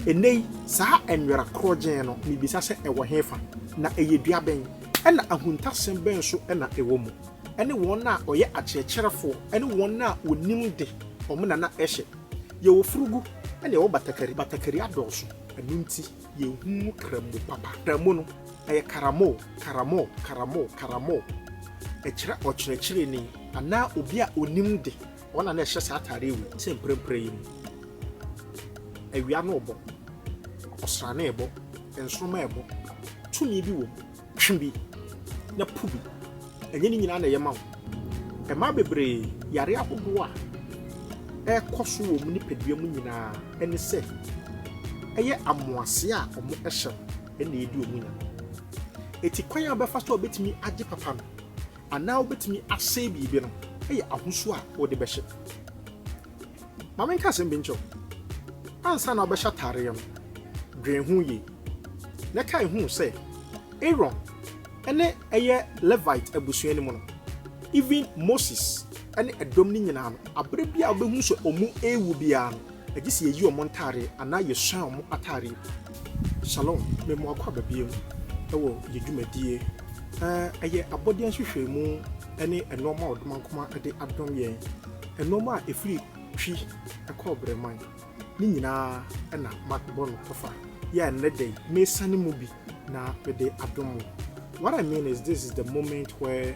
Ɛnnɛyi, saa nwera korɔgyeen no, mibisa sɛ ɛwɔ hefa, na ɛyɛ dua bɛn, ɛna ahuntasɛm bɛn nso na ɛwɔ mu? Ɛne wɔn a wɔyɛ akyerɛkyerɛfoɔ ne wɔn a wɔnim de, wɔn na na ɛhyɛ. Yɛwɔ furugu na yɛwɔ batakari. Batakari adɔɔso, ɛno nti yɛhu mu krammo papa. Krammo no, ɛyɛ karamoo, karamoo, karamoo, karamoo. Ɛkyerɛ ɔkyerɛkyerɛni anaa obi a ɔnim de. Wɔn a na ɛhyɛ saa atade yi te mprempren yi mu. Awia no rebɔ, ɔsrane rebɔ, nsoromma rebɔ. Tumi bi wom. Twe bi, na po bi. Ɛnyɛ ne nyinaa na ɛyɛ ma wo. Mmaa bebree yare ahodoɔ a ɛrekɔ so wɔ wɔn nipadua mu nyinaa ne sɛ ɛyɛ amoaseɛ a wɔhyɛ no na ɛdi wɔn nya. Eti kwan a wɔbɛfa so a wɔbɛtumi agye papa no, Anaa wobetumi asɛe biribi no yɛ ahosu a wode bɛhyɛ. Ma menka asɛm bi nkyerɛ wo. Ansa na wobɛhyɛ atadeɛ no, dwen ho yie, na kae hu sɛ Aaron ne ɛyɛ Levite abusua no mu no, even Moses ne ɛdɔm no nyinaa no, bere biara a wobehu sɛ wɔrewu biara no, Gye sɛ yɛyi wɔn ntadeɛ anaa yɛsua wɔn atadeɛ. Shalom, me mo akɔ aba biom wɔ yɛ dwumadie a ɛyɛ abɔdeɛ nhwehwɛmu ne nnoɔma a ɔdomankoma de adom yɛn, nnoɔma a ɛfiri Twi kɔ Ɔbrɛman, ne nyinaa na mabɔ no tɔfa yi a nnɛ da yi mesane mu bi na mede adom mo. What I mean is this is the moment where.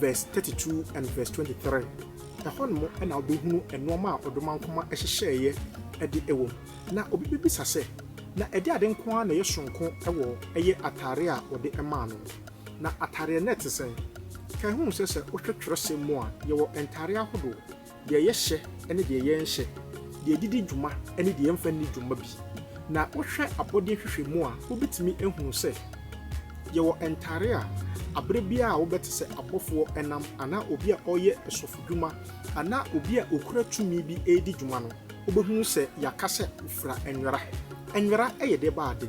verse thirty two and verse twenty three. Ɛhɔ nom na wobɛhunu nnoɔma a ɔdomankoma hyehyɛeɛ de wɔ mu. Na obi bɛbisa sɛ, Na ɛde ade nko ara na ɛyɛ soronko wɔ ɛyɛ atadeɛ a wɔde maa no no? Na atadeɛ no te sɛn? Kae hu sɛ sɛ wohwɛ twerɛsɛm mu a, yɛwɔ ntadeɛ ahodoɔ. deɛ yɛhyɛ ne deɛ yɛnhyɛ, deɛ yɛdidi dwuma ne deɛ yɛmfa nni dwuma bi. Na wohwɛ abɔdeɛ nhwehwɛmu a, wobɛtumi ahunu sɛ yɛwɔ ntare a aberɛ biara a wobɛte sɛ abɔfoɔ nam anaa obi a ɔreyɛ sɔfodwuma anaa obi a ɔkura tumi bi redi dwuma no, wobɛhunu sɛ yɛaka sɛ fira nwera. Nwera yɛ deɛ ba ade.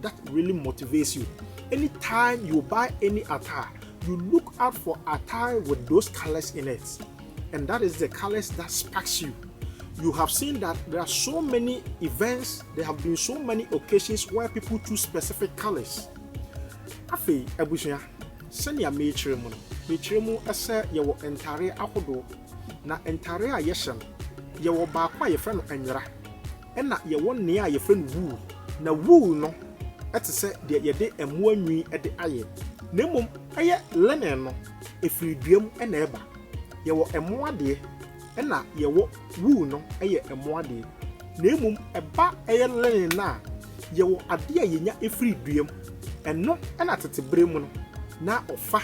that really motivates you anytime you buy any attire you look out for attire with those colors in it and that is the colors that sparks you you have seen that there are so many events there have been so many occasions where people choose specific colors afei abusua sɛnea merekyerɛ mu no mekyerɛ mu sɛ yɛwɔ ntare ahodoɔ na ntare a yɛhyɛ no yɛwɔ baako a yɛfrɛ no nwera Ɛnna yɛwɔ nea a yɛfrɛ no wool. Na wool no te sɛ deɛ yɛde mmoa nwi de ayɛ, na mmom ɛyɛ linen no, ɛfiri dua mu na ɛba. Yɛwɔ mmoa deɛ, ɛnna yɛwɔ wool no yɛ mmoa deɛ. Na mmom ɛba ɛyɛ linen no a, yɛwɔ adeɛ a yɛnya firi dua mu. Ɛno na tete berɛ mu no, na wɔfa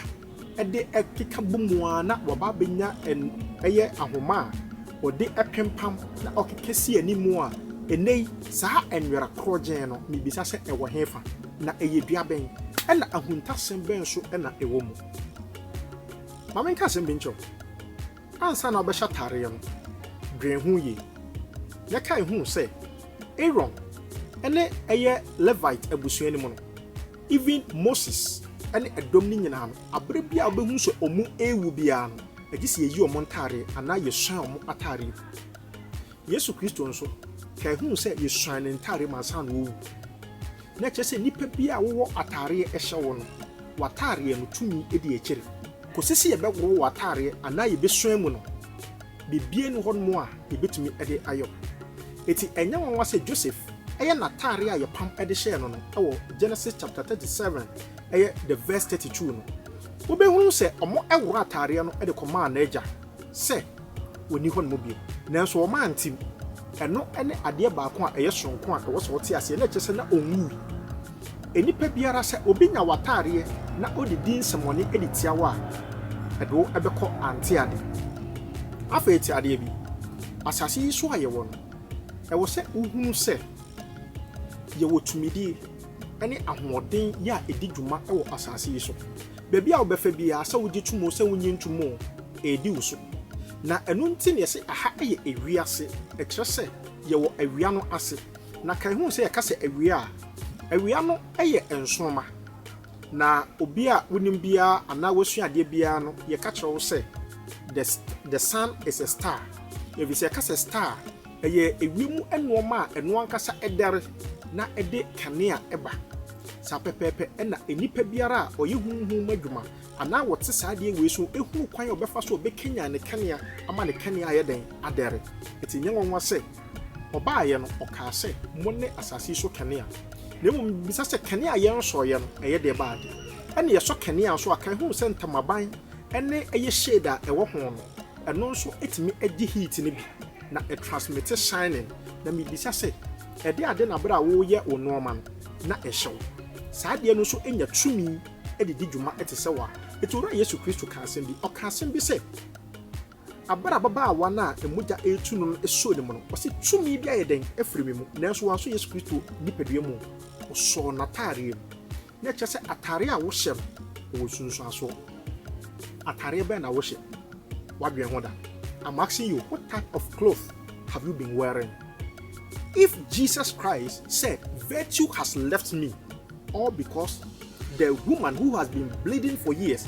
de keka bɔ mu ara na wɔaba abɛnya ɛyɛ ahoma a wɔde pempam na wɔkeka si anim a ɛnnɛ yi saa nwera korɔgyenn no, mebisa sɛ ɛwɔ hefa? Na ɛyɛ dua bɛn? Ɛna ahuntasɛm bɛn nso na ɛwɔ mu? Ma menka asɛm bi nkyerɛ wo. Ansa na wobɛhyɛ atareɛ no, dwen ho yie na kae hu sɛ Aaron ne ɛyɛ Levite abusua no mu no, Even Moses ne ɛdɔm no nyinaa no, abere biara a wobɛhunu sɛ wɔrewu biara no, ɛgye sɛ yɛyi wɔn ntadeɛ anaa yɛsuan wɔn atadeɛ gu. Yesu Kristo nso, ka ɛhuu sɛ yɛsuan ne ntadeɛ mu ansa na ɔrewu. Na ɛkyerɛ sɛ nnipa biara a wowɔ atadeɛ ɛhyɛ wo no, w'atadeɛ no tumi di akyire. Kɔsi sɛ yɛbɛworɔ w'atadeɛ anaa yɛbɛsuan mu no, Biribiara nni hɔnom a yebetumi de ayɛ wo. Enti ɛnyɛ nwanwa sɛ Joseph yɛ n'atade a yɛpam de hyɛɛ no no wɔ Genesis chapter thirty seven yɛ the verse thirty two no. Wobehunu sɛ wɔworɔɔ atadeɛ no de kɔmaa n'agya sɛ onni hɔnom bio, nanso wɔantew. Ɛno ne adeɛ baako a ɛyɛ soronko a ɛwɔ sɛ wɔte aseɛ, na ɛkyerɛ sɛ na onwui. Nnipa biara, sɛ obi nya w'atadeɛ na ɔde di nsɛmmɔne de tia wo a, ɛde wo bɛkɔ ante ade. Afei te adeɛ bi, asase yi so a yɛwɔ no, ɛwɔ sɛ wohunu sɛ yɛwɔ tumidie ne ahoɔden yɛ a ɛdi dwuma wɔ asase yi so. Baabi a wobɛfa biara, sɛ wogye tom o, sɛ wonnye ntom o, ɛredi wo so. Na ɛno nti na yɛse aha yɛ ewiase, ɛkyerɛ sɛ yɛwɔ awia no ase. Na kae hu sɛ yɛka sɛ awia a, awia no yɛ nsoromma. Na obi a wonim biara anaa woasua adeɛ biara no, yɛka kyerɛ wo sɛ the the sun is a star. Ɛfiri sɛ yɛka sɛ star a, ɛyɛ ewiem mu nnoɔma a ɛno ankasa ɛdɛre na ɛde kanea ba. Saa pɛpɛɛpɛ na nnipa biara a ɔyɛ honhom mu adwuma anaa ɔte saa adeɛ wei so hunu kwan a ɔbɛfa so a ɔbɛkanyan ne kanea ama ne kanea ayɛ dɛn? Adɛre. Enti ɛnyɛ nwanwa sɛ Ɔbaeɛ no, ɔkaa sɛ, Mo ne asase yi so kanea. Na mmom mebisa sɛ, kanea a yɛnsɔeɛ no, ɛyɛ deɛ ɛbaa deɛ? Ɛnna yɛsɔ kanea nso a, kan yɛhunu sɛ ntamaban ne ɛyɛ shade a ɛwɔ ho no, ɛno nso tumi gye heat no bi, na ɛtransmite shining. Na mebisa sɛ, Ɛde ade na berɛ a woreyɛ wo nnoɔma no, na ɛhyɛ wo? Saa adeɛ no nso nya tumi de di dwuma te sɛ wo a. Enti Owura Yesu Kristo kaa asɛm bi. Ɔkaa asɛm bi sɛ. Aber a ababaawa no a mogya retu no no sɔɔ ne mu no, ɔse, Tumi bi ayɛ dɛn afiri me mu? Nanso wansɔ Yesu Kristo nipadua mu. Ɔsɔɔ n'atareɛ mu. Na ɛkyerɛ sɛ atareɛ a wohyɛ no, ɛwɔ nsunsuansoɔ. Atareɛ bɛn na wohyɛ? Woadwen ho da? I'm asking you, what type of cloth have you been wearing? If Jesus Christ said, Virtue has left me, all because the woman who has been bleeding for years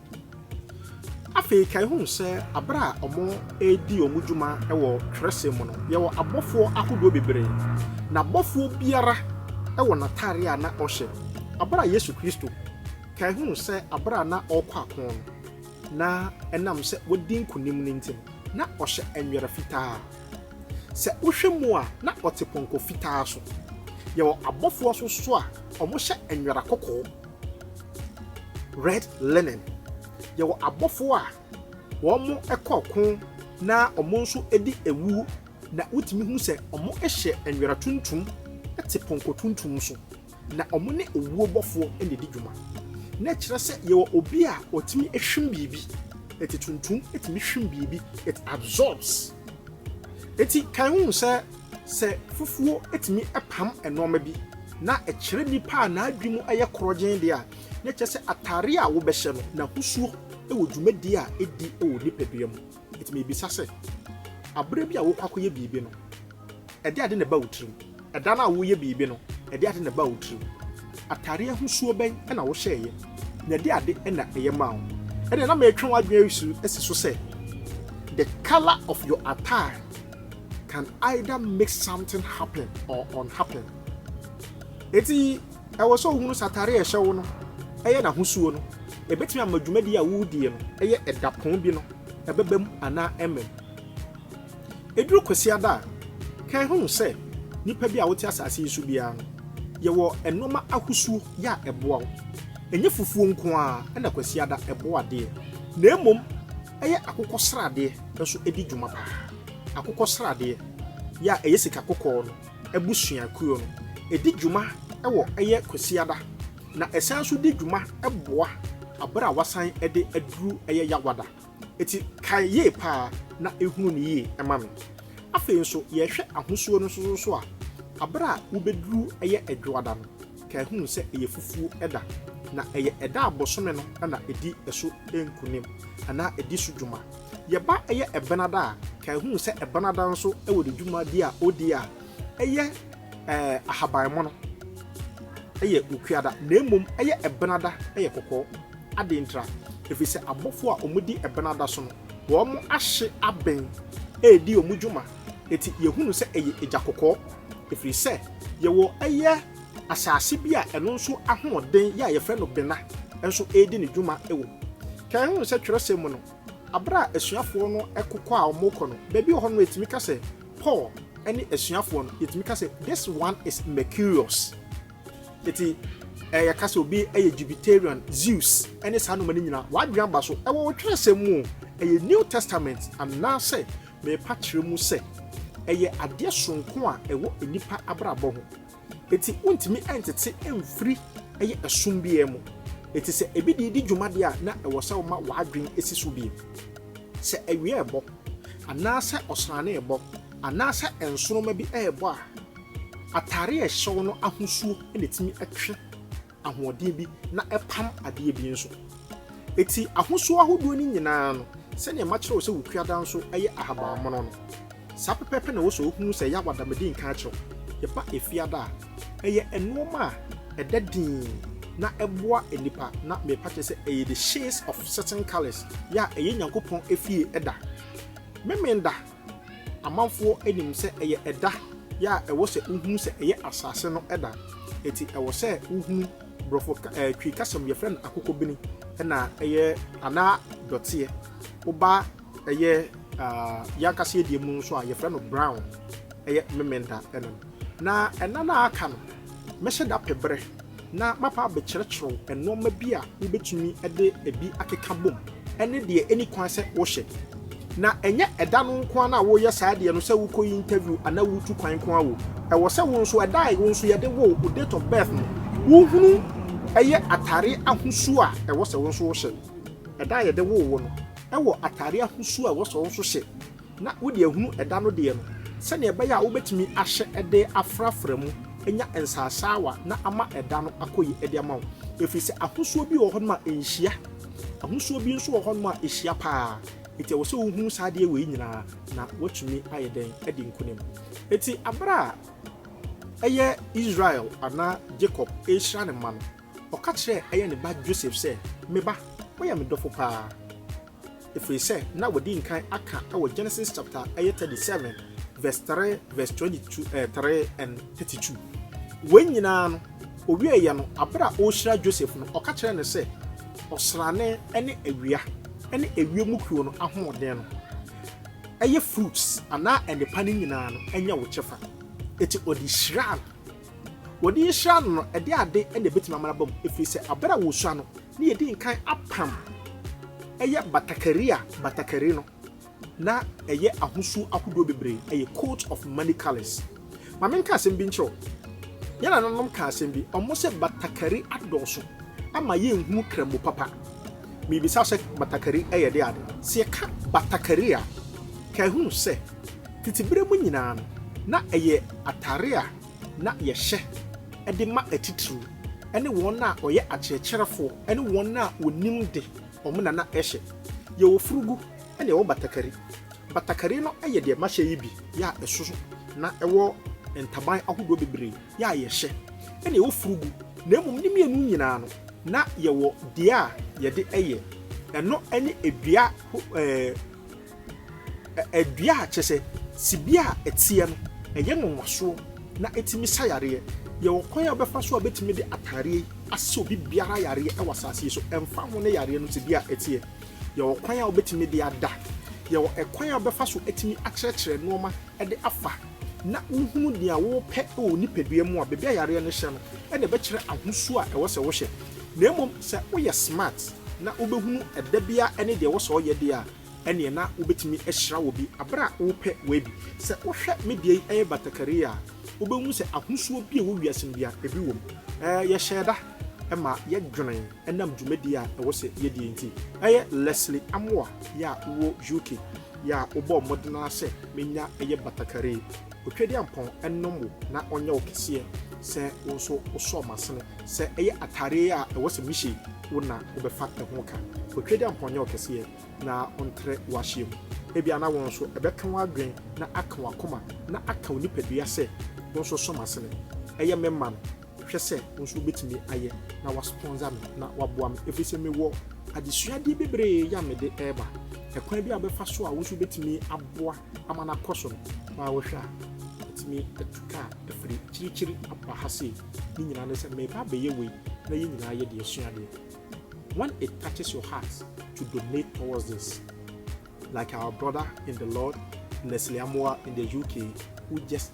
Afei kae hu sɛ bere a wɔredi wɔn dwuma wɔ twerɛsɛm mu no, yɛwɔ abɔfoɔ ahodoɔ bebree, na abɔfoɔ biara wɔ n'atadeɛ a na ɔhyɛ. Bere a Yesu Kristo kae hu sɛ bere a na ɔrekɔ ako no, na ɛnam sɛ wadi nkonim no nti no, na ɔhyɛ nwera fitaa. Sɛ wohwɛ mu a, na ɔte pɔnkɔ fitaa so. Yɛwɔ abɔfoɔ nso so a wɔhyɛ nwera kɔkɔɔ. Red Linen, Yɛwɔ abɔfo a wɔkɔ ɔko na wɔn nso di awu na wotumi hu sɛ wɔhyɛ nwera tuntum te pɔnkɔ tuntum so, na wɔne owuo bɔfoɔ na ɛdi dwuma. Na ɛkyerɛ sɛ yɛwɔ obi a ɔtumi hwim biribi, ɛte tuntum tumi hwim biribi, it absorbs. Eti kan hu sɛ Sɛ fufuo tumi pam nnoɔma bi na ɛkyerɛ nipa a n'adwene mu yɛ korɔgyenn deɛ a, na kyerɛ sɛ ataadeɛ a wobɛhyɛ no, n'ahosuo wɔ dwumadie a ɛdi wɔ nipadua mu. Nti mebisa sɛ, aberɛ bi a wokɔ akɔyɛ biribi no, ɛde ade na ɛba wo tirim? Ɛda no a woreyɛ biribi no, ɛde ade na ɛbaa wo tirim? Ataadeɛ ahosuo bɛn na wohyɛeɛ, na ɛde ade na ɛyɛ maa wo? Ɛnneɛ na metwe w'adwene asi so sɛ, The colour of your attire can either make something happen or unhappen eti ɛwɔ sɛ ohunu sɛ atare a ɛhyɛ wo no ɛyɛ n'ahosuo no ebetumi ama dwumadi a wodie no ɛyɛ ɛdapɔn bi no ɛbɛbam anaa ɛmmɛm eduru kwasiada a kan hunu sɛ nipa bi a wote asase yi so biara no yɛwɔ nneɛma ahosuo yɛ a ɛboa wo ɛnyɛ fufuo nko ara ɛna kwasiada ɛboa adeɛ na mmom Ɛyɛ akokɔsradeɛ nso di dwuma paa. Akokɔsradeɛ, yɛ a ɛyɛ sika kɔkɔɔ no abusuakuo no, ɛdi dwuma wɔ ɛyɛ Kwasiada na ɛsan nso di dwuma boa aberɛ a wasan de aduru ɛyɛ Yawada. Ɛti kae yie paa na hunu no yie ma me. Afei nso yɛhwɛ ahosuo no nso so a, aberɛ a wobɛduru ɛyɛ Adwoada no, ka ehuu sɛ ɛyɛ fufuo da, na ɛyɛ ɛda a bosome no na ɛdi so nkunim anaa ɛdi so dwuma. Yɛba ɛyɛ ɛbenada a, ka ehuu sɛ ɛbenada nso wɔ ne dwuma bi a ɔdi a ɛyɛ ɛɛ ahaban mono ɛyɛ okuada, na mmom ɛyɛ ɛbenada ɛyɛ kɔkɔɔ. Adɛn ntira? Ɛfiri sɛ abɔfoɔ a wɔdi ɛbenada so no, wɔn ahye aben ɛredi wɔn dwuma. Enti yehu no sɛ ɛyɛ egya kɔkɔɔ, ɛfiri sɛ yɛwɔ ɛyɛ asase bi a ɛno nso ahoɔden yɛ a yɛfrɛ no bena nso redi ne dwuma wɔ mu. Ken hu sɛ twerɛsɛm mu no, berɛ a asuafoɔ no kɔ a wɔrekɔ no, baabi wɔ hɔ no yɛtumi ka sɛ Paul ne asuafoɔ no, yɛtumi ka sɛ this one is Mercurius. Enti eh, yɛka sɛ obi yɛ Jupiterian, Zeus, ne saa nnoɔma no nyinaa, w'adwene aba so. Ɛwɔ wo twerɛsɛm mu o, ɛyɛ New Testament anaasɛ Merepa kyerɛ mu sɛ, ɛyɛ adeɛ soronko a ɛwɔ nnipa abrabɔ ho. Enti wontumi ntete mfiri ɛyɛ ɛsom biara mu. Enti sɛ ebi de redi dwuma deɛ a na ɛwɔ sɛ woma w'adwene si so bio. Sɛ awia rebɔ, anaa sɛ ɔsrane rebɔ, anaa sɛ nsoromma bi rebɔ a, atadeɛ a ɛhyɛ wo no ahosuo na ɛtumi twe. ahoɔden bi na ɛpam adeɛ bi nso. Eti ahosuo ahodoɔ no nyinaa no, sɛdeɛ makyerɛ wo sɛ wo kuada nso yɛ ahaban mono no, saa pɛpɛɛpɛ na ɛwɔ sɛ wohunu sɛ ɛyɛ awada mede nka akyerɛ wo. Yɛba efiada a, ɛyɛ nnoɔma a ɛda dinn na ɛboa nnipa na mepa kyɛ sɛ ɛyɛ the shades of certain colours yɛ a ɛyɛ Nyankopɔn efie da. Memenda. Amanfoɔ nim sɛ ɛyɛ ɛda yɛ a ɛwɔ sɛ wohunu sɛ ɛyɛ asase no da. Enti ɛwɔ sɛ wohunu Borɔfo ka ɛɛ Twi kasa mu yɛfrɛ no akokɔbini ɛna ɛyɛ anaa dɔteɛ. Woba ɛyɛ ah yɛn ankasa yɛn deɛ mu nso a yɛfrɛ no brown ɛyɛ Memenda ɛna no. Na ɛna no a aka no mɛhyɛ da pɛ berɛ. na mapa abɛkyerɛkyerɛw nneɛma bi a wubetumi de ebi akeka bom ne deɛ enni kwan sɛ wohyɛ. Na ɛnyɛ ɛda no nko ara na woreyɛ saa adeɛ no sɛ wokɔyi interview anaa woretu kwan nko ara o, ɛwɔ sɛ wo nso ɛda a wo nso yɛde wo wo date of birth no wohunu yɛ atadeɛ ahosuo a ɛwɔ sɛ wo nso wohyɛ. Ɛda a yɛde woo wo no wɔ atadeɛ ahosuo a ɛwɔ sɛ wo nso hyɛ. na wode ahunu ɛda no deɛ no, sɛdeɛ ɛbɛyɛ a wobɛtumi ahyɛ de afrafra mu anya nsasaawa na ama ɛda no akɔ yi de ama wo, ɛfiri sɛ ahosuo bi wɔ hɔnom a ɛnhyia, ahosuo bi nso wɔ hɔnom a ɛhyia paa, ɛti ɛwɔ sɛ wohunu saa adeɛ wei nyinaa na woatumi ayɛ dɛn adi nkonim. Ɛti aberɛ a ɛyɛ Israel anaa Jacob ɛrehyira ne mma no, ɔka kyerɛ ɛyɛ ne ba Joseph sɛ, me ba, woyɛ me dɔfo paa, Ɛfiri sɛ na wɔadi nkan aka wɔ Genesis chapter ɛyɛ 37 verse 3 verse 22 ɛɛ 3 and 32. Wɔn nyinaa no, ɔwieeɛ no, abere a ɔrehyira Joseph no, ɔka kyerɛ no sɛ ɔsrane ne awia ne ewiem mu kuo no ahoɔden no ɛyɛ fruits anaa nnepa no nyinaa no ɛnyɛ wo kyɛfa. Eti ɔde hyiraa no. Wɔde yi hyiraa no no, ɛde ade na ɛbɛtumi ama no aba mu, ɛfiri sɛ abere a wɔsua no, ne yɛdi nkan apam ɛyɛ batakari a batakari no na ɛyɛ ahosuo ahodoɔ bebree, ɛyɛ coat of many colours. Ma menka asɛm bi nkyerɛ wo. Yɛn nananom ka asɛm bi, wɔn sɛ batakari adɔɔso ama yɛnhunu kramo papa. Mebisa sɛ batakari yɛ de ade? Sɛ yɛka batakari a, kae hunu sɛ tete berɛ mu nyinaa no, na ɛyɛ atare a na yɛhyɛ de ma atitiriw ne wɔn a wɔyɛ akyerɛkyerɛfoɔ ne wɔn a wɔnim de, wɔn na na ɛhyɛ. Yɛwɔ furugu na yɛwɔ batakari. Batakari no yɛ deɛ mahyɛ yi bi, yɛ a ɛso na ɛwɔ ntaban ahodoɔ bebree, yɛ a yɛhyɛ, ɛna yɛwɔ furugu, na mmom ne mmienu nyinaa no, na yɛwɔ deɛ a yɛde yɛ, ɛno ne dua ho ɛɛ. dua a kyerɛ sɛ tebea a ɛteɛ no, ɛyɛ nwonwasoɔ na ɛtumi sa yareɛ. Yɛwɔ kwan a wobɛfa so a wobɛtumi de ataadeɛ yi asa obi biara yareɛ wɔ asase yi so, ɛmfa ho ne yareɛ no tebea a ɛteɛ. Yɛwɔ kwan a wobɛtumi de ada. Yɛwɔ ɛkwan a wobɛfa so atumi akyerɛkyerɛ nneɛma de afa na wohunu deɛ wopɛ wɔ wo nipadua mu a, baabi a yareɛ no hyɛ no, ɛna ɛbɛkyerɛ ahosuo a ɛwɔ sɛ wohyɛ. Na mmom sɛ woyɛ smart na wobɛhunu ɛda biara ne deɛ ɛwɔ sɛ ɔyɛ deɛ a, ɛneɛ na wobɛtumi ahyira wɔ bi aberɛ a wopɛ wei bi. Sɛ wohwɛ me deɛ yi ɛyɛ batakari a, wobɛhu sɛ ahosuo bi a ɛwɔ wiase no bia ɛbi wɔ mu. Ɛɛ yɛhyɛɛ da ɛma yɛdwene ɛnam dwumadie a ɛwɔ sɛ yɛdie nti. Ɛyɛ Leslie Amoah yɛ a wowɔ UK yɛ a wobɔɔ mmɔden ara sɛ mɛnya ɛyɛ batakari. Otwadiampɔn nom wo na ɔnyɛ wo kɛseɛ sɛ wo nso wosɔ m'asene sɛ ɛyɛ atadeɛ a ɛwɔ sɛ mehyɛ yi wo na wobɛfa ɛho ka. Otwadiampɔn nyɛ wo kɛseɛ na ɔntrɛ w'ahyeɛ mu. Ebia na wo nso ɛbɛka w'adwene na aka w'akoma na aka wo nipadua sɛ wo nso sɔ m'asene. Ɛyɛ me ma no, hwɛ sɛ wo nso wobɛtumi ayɛ na woaspɔnsa me na woaboa me ɛfiri sɛ mewɔ adesuadeɛ bebree yɛ a mede reba. Ɛkwan bi a wobɛfa so a wo nso wobɛtumi aboa ama no akɔ so no, na wohwɛ a, atumi atu ka afiri akyirikyiri aba ha sei. Ne nyinaa ne sɛ meba abɛyɛ wei na yɛn nyinaa yɛde asua adeɛ. When it touches your heart to donate towards this, like our brother in the Lord, Leslie Amoah in the UK, who just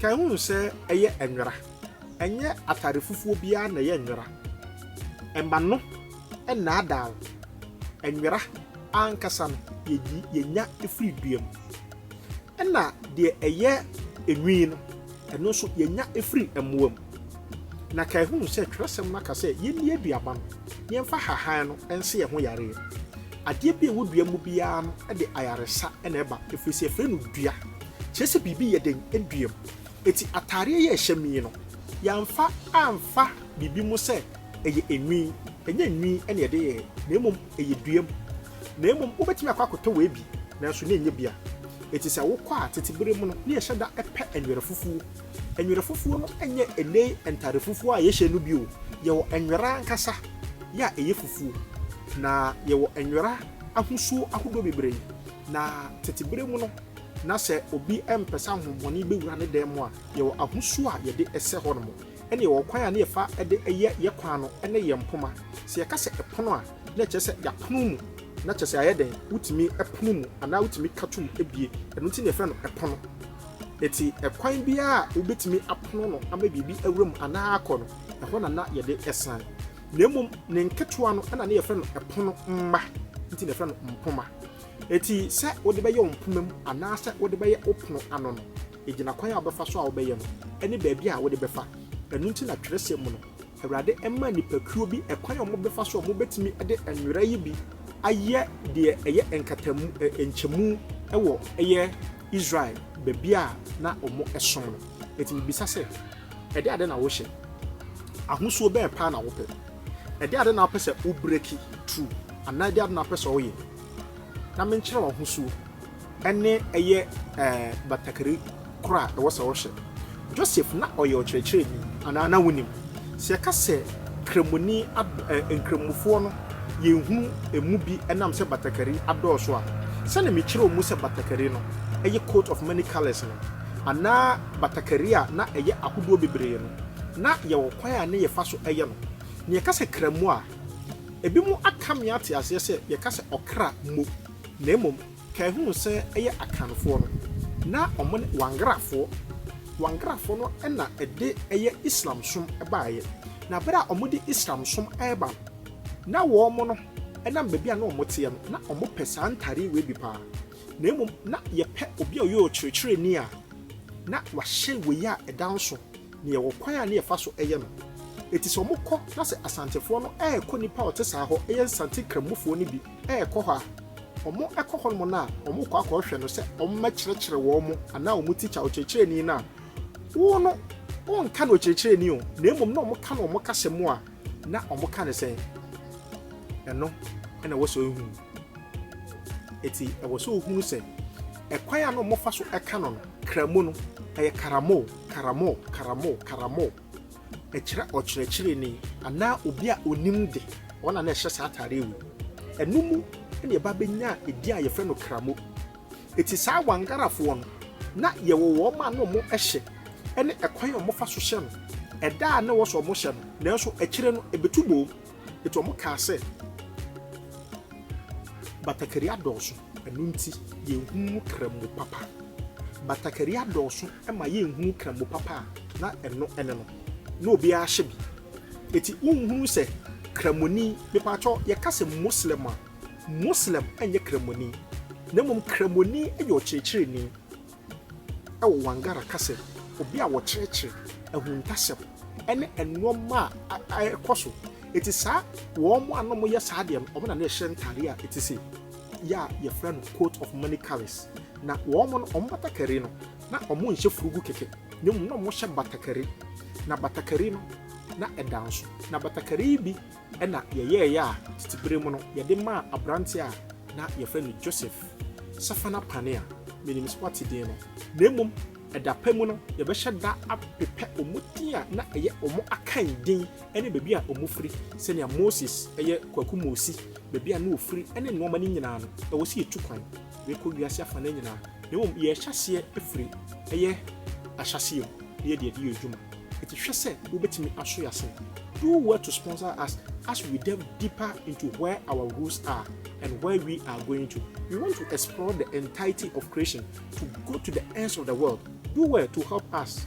Kae hu sɛ ɛyɛ nwera. Ɛnyɛ atade fufuo biara na ɛyɛ nwera. Mma no nnaadaa wo. Nwera ankasa no, yɛyi yɛnya firi dua mu. Ɛna deɛ ɛyɛ nwi no, ɛno nso yɛnya firi mmoa mu. Na kae hu sɛ twerɛsɛm no aka sɛ yɛnni aduaba no, na yɛmfa hahan no nse yɛn ho yareɛ. Adeɛ bi a ɛwɔ dua mu biara no de ayaresa na ɛba, ɛfiri sɛ yɛfrɛ no dua, kyerɛ sɛ biribi yɛ den dua mu. Enti ataadeɛ yi a ɛhyɛ me yi no, yɛamfa amfa biribi mu sɛ ɛyɛ nwi, ɛnyɛ nwi na yɛde yɛeɛ, na mmom ɛyɛ dua mu. Na mmom wobɛtumi akɔ akɔtɔ wei bi, nanso na ɛnyɛ bi a. Enti sɛ wokɔ a, tete berɛ mu no, na yɛhyɛ da pɛ nwera fufuo. Nwera fufuo no nyɛ ɛnɛ ntade fufuo a yɛhyɛ no bio. Yɛwɔ nwera ankasa yɛ a ɛyɛ fufuo, na yɛwɔ nwera ahosuo ahodoɔ bebree. Na tete berɛ mu no, na sɛ obi mpɛ sɛ ahonhommɔne bɛwura ne dan mu a, yɛwɔ ahosuo a yɛde sɛ hɔnom. Ɛnna yɛwɔ kwan a na yɛfa de yɛ yɛn kwan no ne yɛn mpoma. Sɛ yɛka sɛ pono a, na ɛkyerɛ sɛ yɛapono mu, na kyerɛ sɛ ayɛ dɛn, wotumi pono mu anaa wotumi ka tom bue. Ɛno nti na yɛfrɛ no pono. Enti, ɛkwan biara a wobetumi apono no ama biribi awura mu anaa akɔ no, ɛhɔ na na yɛde san. Na mmom ne nketewa no na na yɛfrɛ no ɛpono mma, nti na yɛfrɛ no mpoma. Enti, sɛ wode bɛyɛ wo mpoma mu anaasɛ wode bɛyɛ wo pono ano no, egyinakwan a wobɛfa so a wobɛyɛ no ne baabi a wode bɛfa. Ɛno nti na twerɛsɛm mu no, Awurade mma nnipakuo bi kwan a wɔbɛfa so a wɔbɛtumi de nwera yi bi ayɛ deɛ ɛyɛ nkatamu ɛ nkyɛmu wɔ ɛyɛ Israel baabi a na wɔsom no. Eti mebisa sɛ, ɛde ade na wohyɛ? Ahosuo bɛn paa na wopɛ? Ɛde ade na wopɛ sɛ wobreki through anaa ɛde ade na wopɛ sɛ woyɛ? Na menkyerɛ wo ahosuo. ne ɛyɛ batakari koro a ɛwɔ sɛ ɔhyɛ. Joseph na ɔyɛ ɔkyerɛkyerɛni anaa na wonim? Sɛ yɛka sɛ Kramoni Nkramofoɔ no yɛhunu ɛmu bi ɛnam sɛ batakari adɔɔso a, sɛnea mekyerɛw mu sɛ batakari no ɛyɛ coat of many colours no anaa batakari a na ɛyɛ ahodoɔ bebree no na yɛwɔ kwan a na yɛfa so ɛyɛ no. Na yɛka sɛ Kramo a, ebinom aka me ate aseɛ sɛ yɛka sɛ ɔkra mmo na mmom Kɛhuu sɛ ɛyɛ Akanfoɔ no, na wɔn ne Wangarafoɔ. Wangarafoɔ no na ɛde ɛyɛ Islamsom baeɛ. Na berɛ a wɔde Islamsom reba no, na wɔn no, ɛnam baabi a na wɔteɛ no, na wɔpɛ saa ntadeɛ wei bi pa ara. Na mmom na yɛpɛ obi a ɔyɛ ɔkyerɛkyerɛni a na wahyɛ wei a ɛda nso, na yɛwɔ kwan a na yɛfa so yɛ no. Enti sɛ wɔkɔ na sɛ Asantefoɔ no rekɔ nipa a ɔte saa hɔ, ɛyɛ Nsante Krammufoɔ no bi, ɛrekɔ hɔ a, wɔkɔ hɔnom no a, wɔkɔ akɔhwɛ no sɛ ɔmmɛkyerɛkyerɛ wɔn anaa wɔn tikya, ɔkyerɛkyerɛni no a, wo no, wonka no ɔkyerɛkyerɛni o, na mmom na wɔka no wɔn kasa mu a, na wɔka no sɛn? Ɛno na ɛwɔ sɛ ohunu. Eti ɛwɔ sɛ ohunu sɛ ɛkwan a na wɔfa so ɛka no no, Kramu no, ɛyɛ karamo, karamo, karamo, karamo. Ɛkyerɛ ɔkyerɛkyerɛni anaa obi a onim de, wɔn na na ɛhyɛ saa atade yi wom. Ɛno mu na yɛba bɛnya edin a yɛfrɛ no kramo. Eti saa Wangarafoɔ no, na yɛwɔ wɔn a na wɔhyɛ ne ɛkwan a wɔfa so hyɛ no. Ɛda a na ɛwɔ sɛ wɔhyɛ no, nanso akyire no ɛbɛtu boom. Enti wɔkaa sɛ, Batakari adɔɔso, ɛno nti yenhuu Krɛmo papa. Batakari adɔɔso ma yenhuu Krɛmo papa a, na ɛno ne no. Na obiara hyɛ bi. Enti wonhunuu sɛ Krɛmoni, mepaatɔ, yɛka sɛ Moslɛm a, Moslɛm nyɛ Krɛmoni, na mmom Krɛmoni yɛ ɔkyerɛkyerɛni. Wɔ Wangara kasa mu, obi a wɔkyerɛkyerɛ ahuntasɛm ne nnoɔma a ɛkɔ so ɛti saa, wɔn a na wɔyɛ saa deɛ no, wɔn na na ɛhyɛ ntadeɛ a ɛti sei yɛ a yɛfrɛ no coat of many colors. Na wɔn no, wɔn batakari no, na wɔn nhyɛ furugu kɛkɛ, na mmom na wɔhyɛ batakari, na batakari no, na ɛda nso, na batakari yi bi. na yɛyɛeɛ a tete berɛ mu no yɛde maa aberanteɛ a na yɛfrɛ no Joseph Safana Pane a menim sɛ wate din no, na mmom ɛda pa mu no yɛbɛhyɛ da apepɛ wɔn din a na ɛyɛ wɔn akan din ne baabi a wɔfiri sɛnea Moses ɛyɛ Kwaku Mosi baabi a na ɔfiri ne nneɛma no nyinaa no ɛwɔ sɛ yɛtu kwan Yɛkɔ wiase afanan nyinaa, na mmom yɛhyɛ aseɛ firi ɛyɛ ahyɛaseɛ mu na yɛde adi yɛn dwuma. Enti hwɛ sɛ wobɛtumi aso yɛn asen. Do well to sponsor us as we delve deeper into where our roots are and where we are going to. We want to explore the entirety of creation to go to the ends of the world. Do well to help us.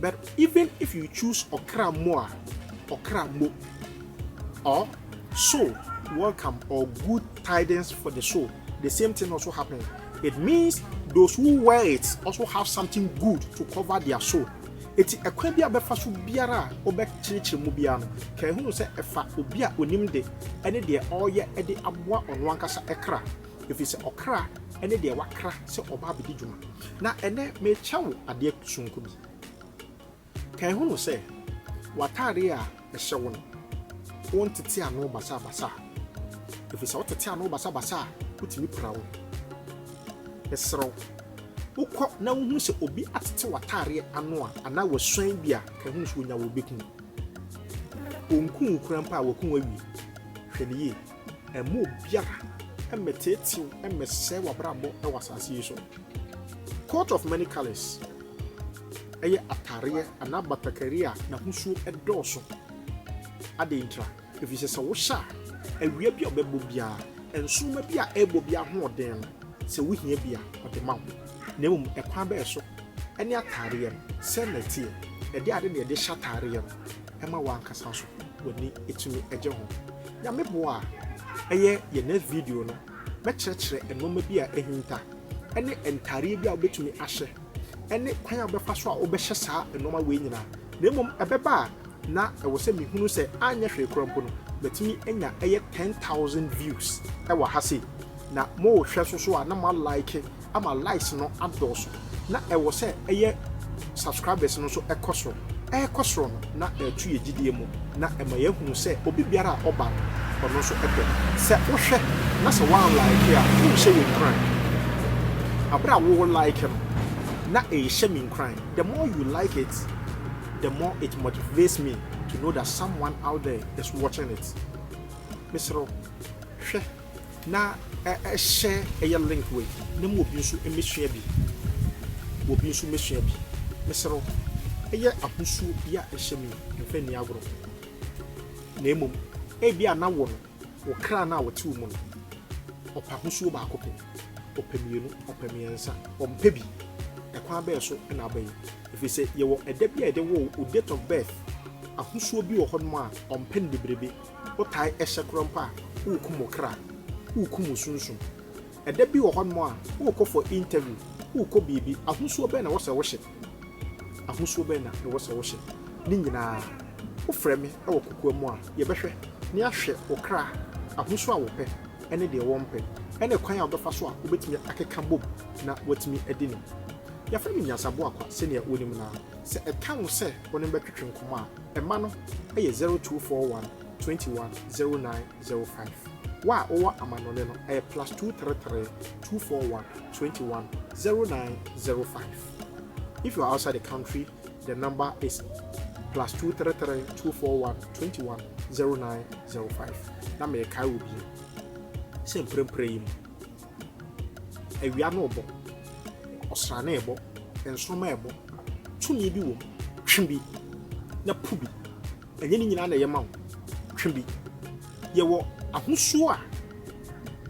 But even if you choose ɔkra mo a, ɔkra mo or soul welcome or good tidings for the soul, the same thing also happen. It means those who wear it also have something good to cover their soul. Eti ɛkwan bi a bɛfa so biara a wobɛkyerɛkyerɛ mu biara no, ka ehunu sɛ ɛfa obi a onim de ɛne deɛ ɔreyɛ de aboa ɔno ankasa kra. ɛfiri sɛ ɔkra ne deɛ wakra sɛ ɔba abɛdi dwuma. Na ɛnɛ merekyɛ wo adeɛ sononko bi. Kan hunu sɛ w'ataadeɛ a ɛhyɛ wo no, wontete ano basabasa. Ɛfiri sɛ wotete ano basabasa a, wotumi pira wo. Mesrɛ wo, wokɔ na wohunu sɛ obi atete w'ataadeɛ ano a anaa wasuan bi a, kan hunu sɛ onya wo bɛku. Ɔnku wo kura mpo a, waku wo awie. Hwɛ no yie. Mma obiara mmɛteetee wo mmɛsɛe w'abrabɔ wɔ asase yi so. Coat of many colors ɛyɛ atareɛ anaa batakari a n'ahosuo dɔɔso. Adɛn ntira? Ɛfiri sɛ sɛ wohyɛ a, awia bi a ɔbɛbɔ biara, nsoroma bi a ɛrebɔ bi ahoɔden no, sɛ wohia bi a, ɔde ma wo. Na mmom ɛkwan bɛɛ so ɛne atareɛ no sɛn na ɛteɛ? Ɛde ade na ɛde hyɛ atareɛ no. ɛma w'ankasa nso w'ani tumi gye ho. Nyame boa a, ɛyɛ yɛn next video no, mɛkyerɛkyerɛ nneɛma bi a ahinta ne ntareɛ bi a wobɛtumi ahyɛ ne kwan a wobɛfa so a wobɛhyɛ saa nneɛma wei nyinaa. Na mmom ɛbɛba a na ɛwɔ sɛ mehunu sɛ anyɛ hwee koraa mpo no matumi anya ɛyɛ 10,000 views ɛwɔ ha sei na mohwɛ so so a na moalike ama likes no adɔɔso na ɛwɔ sɛ ɛyɛ subscribers no nso ɛkɔ soro ɛkɔ soro no na ɛtu yɛ gyidie mu na ɛma yɛahunu sɛ obi biara a ɔba no ɔno nso ɛpɛ sɛ wohwɛ na sɛ wɔn like a wonhyɛ yɛn kran abere a wo like no na ɛhyɛ me nkran the more you like it the more it motivates me to know that someone out there is watching it mesrɛ hwɛ na hyɛ ɛyɛ link wei na ma obi nso mmɛsua bi, ma obi nso mmɛsua bi. Mesrɛ wo, ɛyɛ ahosuo yi a ɛhyɛ me yi, mfa nni agorɔ. Na mmom, ebi a na wo no, wo kra no a wɔte wo mu no, ɔpɛ ahosuo baako pɛ, ɔpɛ mmienu, ɔpɛ mmiɛnsa, ɔmpɛ bi. Ɛkwan bɛn so na aba yi? Ɛfiri sɛ yɛwɔ ɛda bi a yɛde woo wo, wo date of birth, ahosuo bi wɔ hɔnom a ɔmpɛ no bebrebe. wotae hyɛ koro mpo a, worekum wo kra, worekum wo sunsum. Ɛda bi wɔ hɔnom a, worekɔ for interview, worekɔ biribi, ahosuo bɛn na ɛwɔ sɛ wohyɛ? Ahosuo bɛn na ɛwɔ sɛ wohyɛ? Ne nyinaa, wofrɛ me wɔ kokoa mu a, yɛbɛhwɛ na yɛahwɛ wo kra ahosuo a wɔpɛ ne deɛ wɔmpɛ, ne kwan a wobɛfa so a wobɛtumi akeka bom na woatumi adi no. Yɛfrɛ no nyansaboa kwa sɛdeɛ wonim no ara. Sɛ ɛka wo sɛ wo ne no bɛtwetwe nkɔmmɔ a, Mma no yɛ 0241210905. Wo a wowɔ amannɔne no yɛ +23324210905. If you are outside the country, the number is +2332421210905. Na merekae wo bio sɛ mprempren yi mu. Awia no rebɔ, ɔsrane rebɔ, nsoromma rebɔ, tumi bi wɔ mu. Twe bi na pu bi. Ɛnyɛ ne nyinaa na ɛyɛ ma wo. Twe bi. Yɛwɔ ahosuo a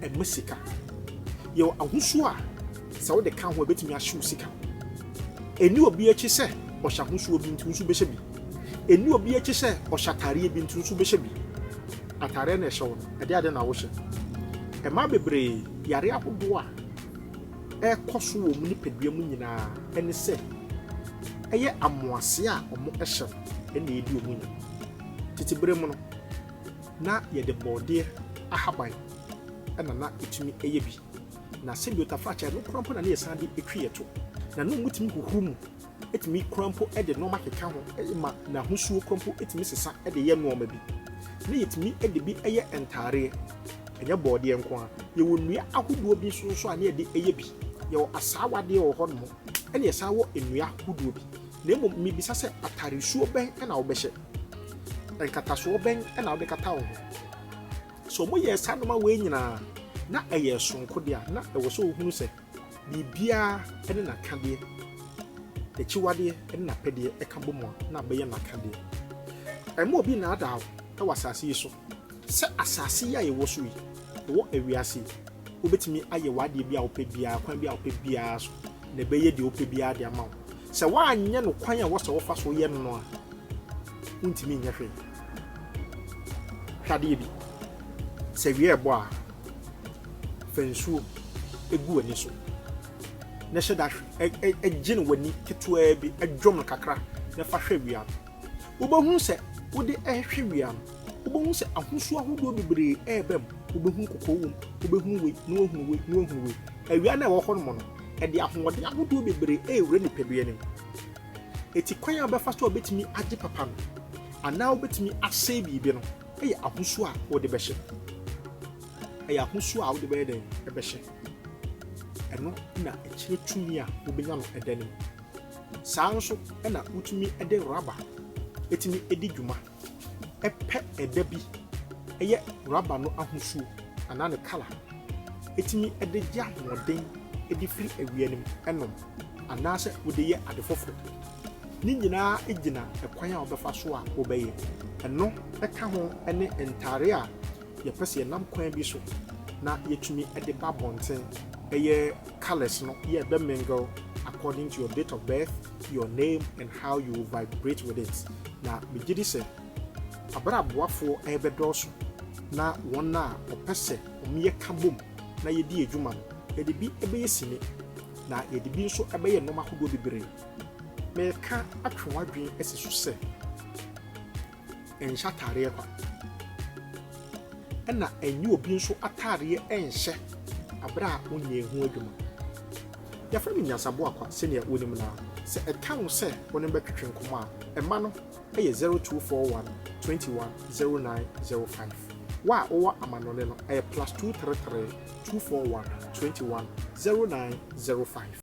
ɛma sika. Yɛwɔ ahosuo a sɛ wode ka ho a ɛbɛtumi ahye wo sika. Ɛni obi akyi sɛ ɔhyɛ ahosuo bi nti nso bɛhyɛ bi. Ɛni obi akyi sɛ ɔhyɛ ataareɛ bi nti nso bɛhyɛ bi. Ataareɛ na ɛhyɛ wo no, Ɛde ade na wohyɛ. Mmaa bebree yare ahodoɔ a ɛrekɔ so wɔ wɔn nipadua mu nyinaa ne sɛ ɛyɛ amoaseɛ a wɔhyɛ no na ɛredi wɔn nya. Tete berɛ mu no, na yɛde bɔɔdeɛ ahaban na na ɛtumi yɛ bi. Na sɛdeɛ otafrakye a ɛno koraa mpo na na yɛsan de twe yɛn to. Na na wɔtumi huhuru mu tumi kura mpo de nneɛma keka ho ma n'ahosuo kura mpo tumi sesa de yɛ nneɛma bi. Na yɛtumi de bi yɛ ntaareɛ, ɛnyɛ bɔɔdeɛ nko ara. Yɛwɔ nnua ahodoɔ bi nso nso a na yɛde yɛ bi. Yɛwɔ asaawadeɛ wɔ hɔnom, ɛna yɛsan wɔ nnua ahodoɔ bi. Na mmom mebisa sɛ ataaresuo bɛn na wobɛhyɛ? Nkatasoɔ bɛn na wode kata wo ho? Sɛ wɔyɛ saa nneɛma wei nyinaa na ɛyɛ soronko deɛ a, na ɛwɔ sɛ wohunu sɛ Biribiara ne n'akadeɛ, n'akyiwadeɛ ne n'apɛdeɛ ka bɔ mu a, na abɛyɛ n'akadeɛ. Ɛmma obi nnaadaa wo wɔ asase yi so sɛ asase yi a yɛwɔ so yi, yɛwɔ wiase yi, wobɛtumi ayɛ w'adeɛ bi a wopɛ biara, kwan bi a wopɛ biara so, na ɛbɛyɛ deɛ wopɛ biara de ama wo. Sɛ woanyɛ no kwan a ɛwɔ sɛ wofa so yɛ no no a, wontumi nyɛ hwee. Hwɛ adeɛ bi, sɛ awia ɛbɔ a, Fa nsuo gu w'ani so na hyɛ da hwɛ. Gye no w'ani ketewaa bi, dwom no kakra na fa hwɛ wia no. Wobɛhunu sɛ wode rehwɛ wia no, wobɛhunu sɛ ahosuo ahodoɔ bebree reba mu. Wobɛhunu kɔkɔɔ wom, wobɛhunu wei na woahunu wei na woahunu wei. Awia no a ɛwɔ hɔ nom no, ɛde ahoɔden ahodoɔ bebree rewura nipadua no mu. Eti kwan a wobɛfa so a wobɛtumi agye papa no anaa wobɛtumi asɛe biribi no, Ɛyɛ ahosuo a wode bɛhyɛ. Ɛyɛ ahosuo a wode bɛyɛ dɛn ɛbɛhyɛ. Ɛno na ɛkyerɛ tumi a wobɛnya no ɛda no mu. Saa nso na wotumi de raba ɛtumi ɛdi dwuma. Ɛpɛ ɛda bi ɛyɛ raba no ahosuo anaa ne kala ɛtumi ɛde gye ahoɔden ɛde firi awia no mu ɛnom anaasɛ wode yɛ ade foforɔ. Ne nyinaa gyina kwan a wobɛfa so a wobɛyɛ. Ɛno ka ho ne ntade a yɛpɛ sɛ yɛnam kwan bi so na yɛatumi de ba abɔnten, ɛyɛ colours no yɛ bɛ mingle according to your date of birth, your name and how you vibrate with it. Na megye di sɛ abere aboafoɔ ɛrebɛdɔɔso na wɔn a wɔpɛ sɛ wɔyɛ ka bom na yɛdi adwuma no, yɛde bi bɛyɛ sini na yɛde bi nso bɛyɛ nnoɔma ahodoɔ bebree. Mereka atwe w'adwene asi so sɛ, Nhyɛ ataadeɛ kwa. Ɛna ɛnyɛ obi nso ataadeɛ nhyɛ abere a wonyɛ ho adwuma. Yɛfrɛ no nyansaboa kwa sɛnea wonim no ara. Sɛ ɛka wo sɛ wo ne no bɛtwetwe nkɔmmɔ a, mma no yɛ 0241 21 0905. Wo a wowɔ amannɔne no, ɛyɛ plus 233 241 21 0905.